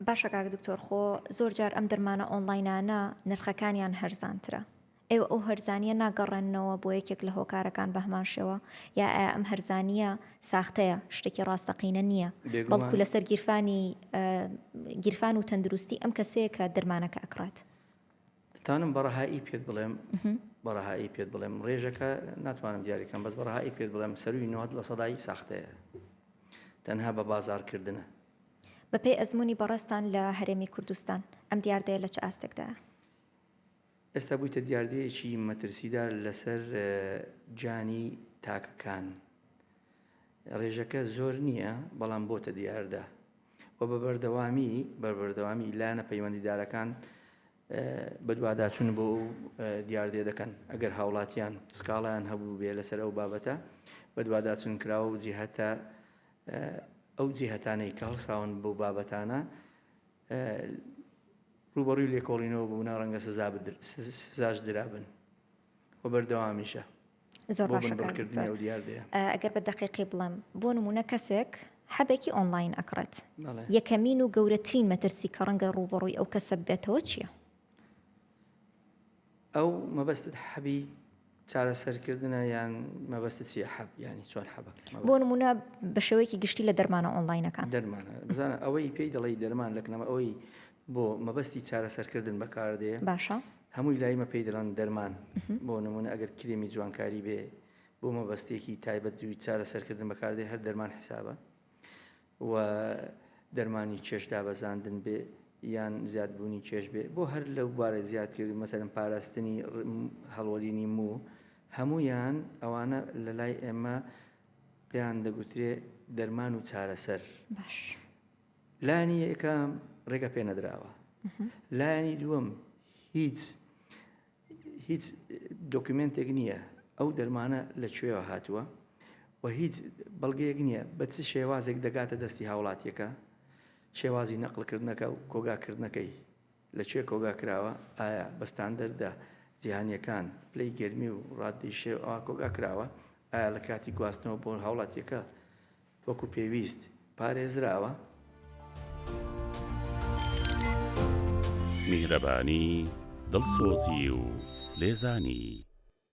باشە کاک دکتۆر خۆ زۆر جار ئەم دەرمانە ئۆنلاینانە نرخەکانیان هەرزانترە ئێوە ئەو هەرزانیە ناگەڕێننەوە بۆ یەکێک لە هۆکارەکان بەهمان شێوە یا ئەم هەرزانیە ساختەیە شتێکی ڕاستەقینە نییە بەڵکو لەسەر گیرفانی گیرفان و تەندروستی ئەم کەسەیە کە دەرمانەکە ئەکڕێت دەتوانم بە ڕەهایی پێت بڵێم بە ڕەهایی پێت بڵێم ڕێژەکە ناتوانم دیاریکەم بەس بە ڕەهایی پێت بڵێم سەروی نوات لە سەدای ساختەیە تەنها بە بازارکردنە بەپێی ئەزمموی بەڕێستان لە هەرێمی کوردستان ئەم دیاردەیە لە چ ئاستێکدا ئێستا بوویتە دیاردەیەکی مەترسیدار لەسەر جانی تاکەکان ڕێژەکە زۆر نییە بەڵام بۆتە دیاردە و بە بەردەوامی بەربەردەوامی لایەنە پەیوەندیدارەکان بەدواداچون بۆ ئەو دیاردێ دەکەن ئەگەر هاوڵاتیان سکاڵیان هەبوو بێ لەسەر ئەو بابەتە بەدواداچون کراوە و جیهتە ئەو جیهتانەی کە هەڵساون بۆ بابەتانە ڕوبەڕوی لێکۆڵینەوە بوونا ڕەنگە سزا سزاش درابن و بەردەوامیشە زۆر بۆ بن بڕکردنی ئەو دیاردەیە ئەگەر بە دقیقی بڵێم بۆ نمونە کەسێک حەبێکی ئۆنلاین ئەکڕێت یەکەمین و گەورەترین مەترسی کە ڕەنگە ڕوبەڕووی ئەو کەسە بێتەوە چییە؟ ئەو مەبەستت حەبی چارەسەرکردنە یان مەبەست چی حەب ینی چۆن حەب بۆ نمونە بە شێوەیەکی گشتی لە دەرمانە ئۆنلاینەکان دەرمانە بزانە ئەوەی پێی دەڵی دەرمان لەکنەمە ئەوەی بۆ مەبەستی چارەسەرکردن بەکاردێ باشە هەمووی لای مە پێی دەڵێن دەرمان بۆ نمونە ئەگەر کرێمی جوانکاری بێ بۆ مەبەستێکی تایبەت دووی چارە سەرکردن بەکاردێ هەر دەرمان حسابە و دەرمانی کێش دابەزاندن بێ یان زیادبوونی کێش بێ بۆ هەر لەو بارە زیاتر مەسەرم پاراستنی هەڵوەرینی مو هەمویان ئەوانە لە لای ئێمە پێیان دەگوترێ دەرمان و چارەسەر باش. لانی یەکەم ڕێگە پێ نەدراوە لایانی دووەم هیچ هیچ دۆکیومنتێک نییە ئەو دەرمانە لە کوێوە هاتووە و هیچ بەڵگەیەک نییە بە چ شێوازێک دەگاتە دەستی هاوڵاتیەکە شێوازی نەقلکردنەکە و کۆگاکردنەکەی لە کوێ کۆگا کراوە؟ ئایا بە ستاندەردە جیهانییەکان، پلەی گەرمی و ڕاددەی شێ ەوە کۆگا کراوە؟ ئایا لە کاتی گواستنەوە بۆ هاوڵاتییەکە وەکو پێویست پارێزراوە؟ میهرەبانی، دڵسۆزی و لێزانی.